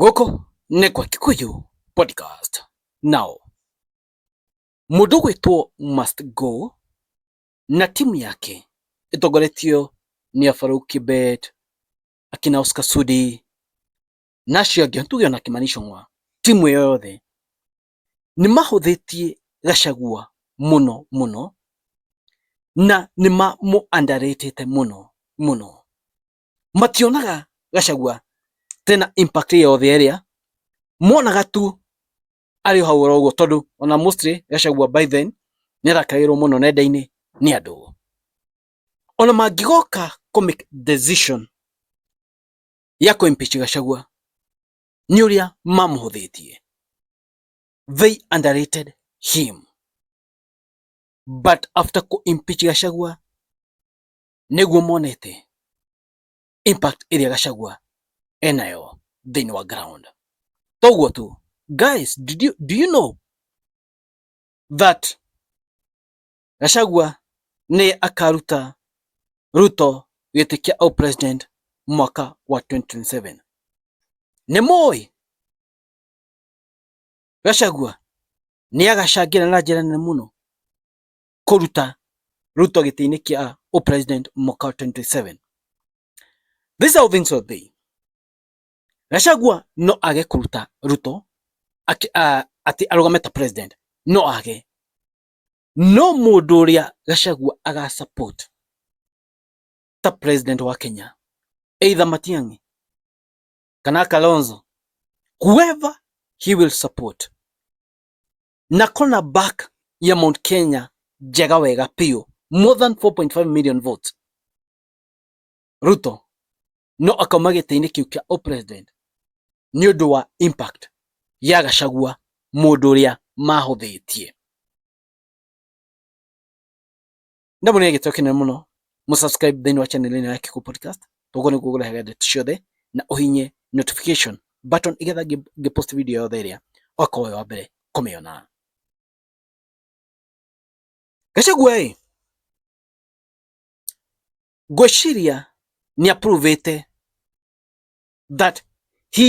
gũkũ nĩ kwa Kikuyu podcast nao mũndũ gwĩtwo must go na timu yake ĩtongoretio nĩ Afaruk Kibet akina Oscar Sudi na acio angĩ tuge ona Kimani Ichung'wa timu ĩyo yothe nĩ mahũthĩtie Gachagua mũno mũno na nĩ mamũ underrate mũno mũno mationaga gacagua tena impact yothe ĩrĩa monaga tu arĩ hau oro ũguo tondũ ona mostly gacagua by then nĩ arakagĩrwo mũno nenda-inĩ nĩ andũ ona mangĩgoka kũ make decision ya kũ impeach gacagua nĩ ũrĩa mamũhũthĩtie they underrated him but after kũ impeach gacagua nĩguo monete impact ĩrĩa Gachagua enayo thĩinĩ wa ground. Toguo tu guys, did you, do you know that Gachagua nĩ akaruta Ruto gĩtĩ kĩa au president mwaka wa 2027. Nĩ mũĩ Gachagua nĩ agacangĩra na njĩra nene mũno kũruta Ruto gĩtĩ-inĩ kĩa o president mwaka 27 this how things will be Gachagua no age kũruta Ruto atĩ arũgame ta president no age no mũndũ ũrĩa Gachagua aga support ta president wa Kenya either Matiang'i kana Kalonzo whoever he will support na corner back ya Mount Kenya njega wega biũ more than 4.5 million votes Ruto no akauma gĩtĩ-inĩ kĩu kĩa president nĩ ũndũ wa impact ya Gachagua mũndũ ũrĩa mahũthĩtie ndamwĩra gĩtĩo kĩnene mũno mũ subscribe thĩinĩ wa channel ĩno ya Kĩkũ Podcast ũguo nĩguo ũrehaga ndeto ciothe na ũhinye notification button igetha ngĩpost video yothe ĩrĩa okorwo wĩ wa mbere kũmĩona Gachagua ĩ ngwĩciria nĩ approvĩte that he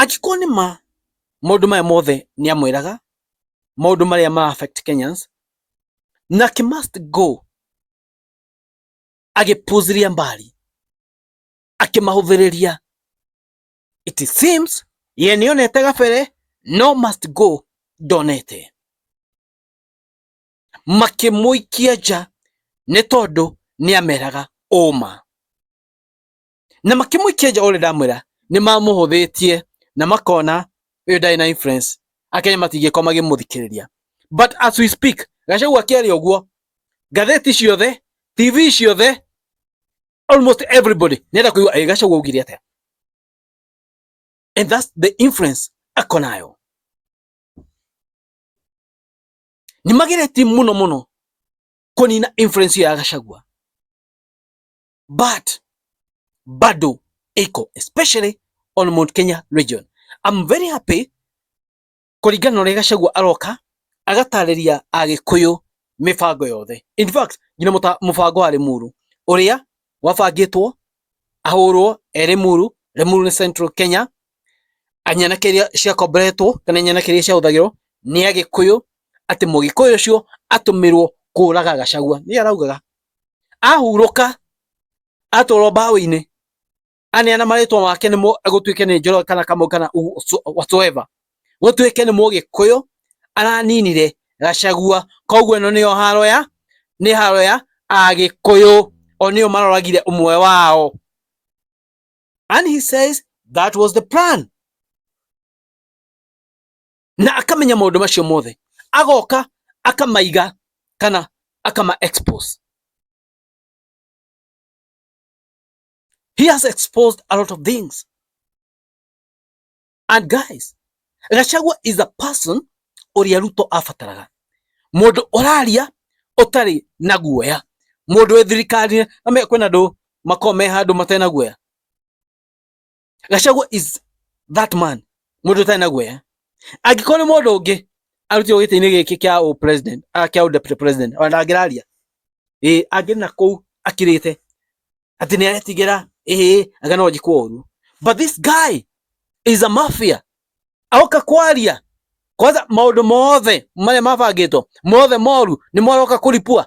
Angĩkorwo nĩ ma maũndũ maya mothe nĩ amwĩraga maũndũ marĩa ma affect Kenyans na ki must go agĩpuziria mbali akĩmahũthĩrĩria it seems ye nĩonete gabere no must go ndonete makĩmũikia nja nĩ tondũ nĩameraga ũma na makĩmũikia nja ũrĩa ndamwĩra nĩ mamũhũthĩtie na makona ũyũ ndarĩ na influence akenya matingĩkorwo magĩmũthikĩrĩria but as we speak gacagua kĩarĩ ũguo ngathĩti ciothe tv ciothe almost everybody nenda kuigua ä gacagu augire atä and that's the influence ako nayo nä mageretie må no må no kå nina influence ya gacagua but bado iko especially on Mount Kenya region. I'm very happy kuringana na uria Gachagua aroka agatariria agikuyu mibango yothe. In fact, ngina mubango wa Limuru uria wabangitwo ahurwo e Limuru, Limuru ni Central Kenya, anyanake iria ciakomboretwo kana anyanake iria ciahũthagĩrwo nĩ agikuyu ati mugikuyu ucio atumirwo kuraga Gachagua. Ni araugaga ahurũka atũrwo mbaũ-inĩ aneana marĩtwa make nĩ gũtuĩke nĩ njoro kana kamau kana whatsoever gũtuĩke nĩ mũgĩkũyũ araninire gacagua koguo ĩno nĩyo haro ya nĩ haro ya agĩkũyũ o nĩyo maroragire ũmwe wao and he says that was the plan na akamenya maũndũ macio mothe agoka akamaiga kana akama expose he has exposed a lot of things and guys Gachagua is a person ũrĩa Ruto abataraga mũndũ ũraria ũtarĩ na guoya mũndũ wĩ thirikari na kwĩna andũ makome handũ matena guoya Gachagua is that man mundu tani na guoya angĩkorwo nĩ mũndũ ũngĩ arutirwo gĩtĩ-inĩ gĩkĩ kĩa ũ president a kĩa ũ deputy president ona ndangĩraria ĩ angĩ na kũu akirĩte atĩ nĩ aretigĩra ĩ anga no njikwo ũru but this guy is a mafia aoka kwaria kwanza maũndũ mothe marĩa mabangĩtwo mothe moru nĩ maroka kũripua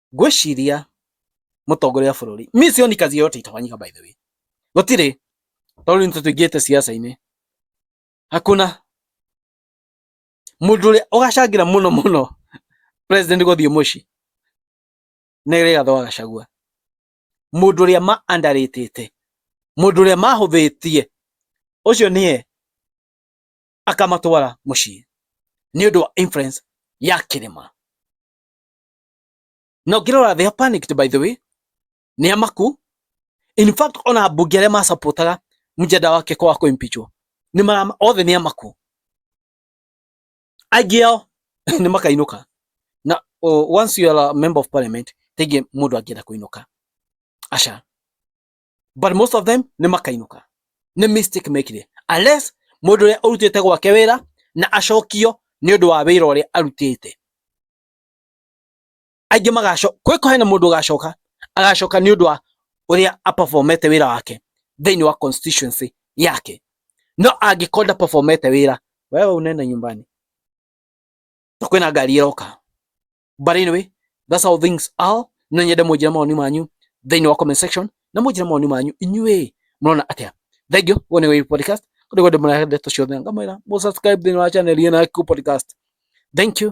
ngwĩciria mũtongoria wa bũrũri mi sioni kazi yote itafanyika by the way gũtirĩ tondũ nĩ tũingĩte siasa-inĩ hakuna mũndũ ũrĩa ũgacangĩra mũno mũno president gũthiĩ mũciĩ nĩ Rigathĩ wa Gachagua mundu ria ma andaritite mundu ria mahuthitie ucio nie akamatwara mucii ni undu wa influence ya kirima na ũngĩrora they are panicked by the way nĩ amaku in fact ona ambunge arĩa masapotaga mjada wake kwa wako impichwo ni mara othe ni amaku aingĩ ao nĩ makainuka na oh, once you are a member of parliament tenge mundu angienda kuinuka asha but most of them ni makainuka ni mistake mekire unless mundu uria urutite gwake wira na acokio ni undu wa wira uria arutite aingĩ magacoka kwĩ kũhe na mũndũ ũgacoka agacoka nĩ ũndũ wa ũrĩa aperformete wĩra wake thĩinĩ wa constituency yake no angĩkorwo nda performete wĩra wewe unene nyumbani na kwĩna ngari ĩroka but anyway that's how things are no nyende mũnjĩre mawoni manyu thĩinĩ wa comment section na mũnjĩre mawoni manyu inyuĩ mũrona atĩa thank you guo nĩ podcast kũrĩ gwendĩ mũrahende tũciothe ngamwĩra mũsubscribe thĩinĩ wa channel ĩyo na Q podcast thank you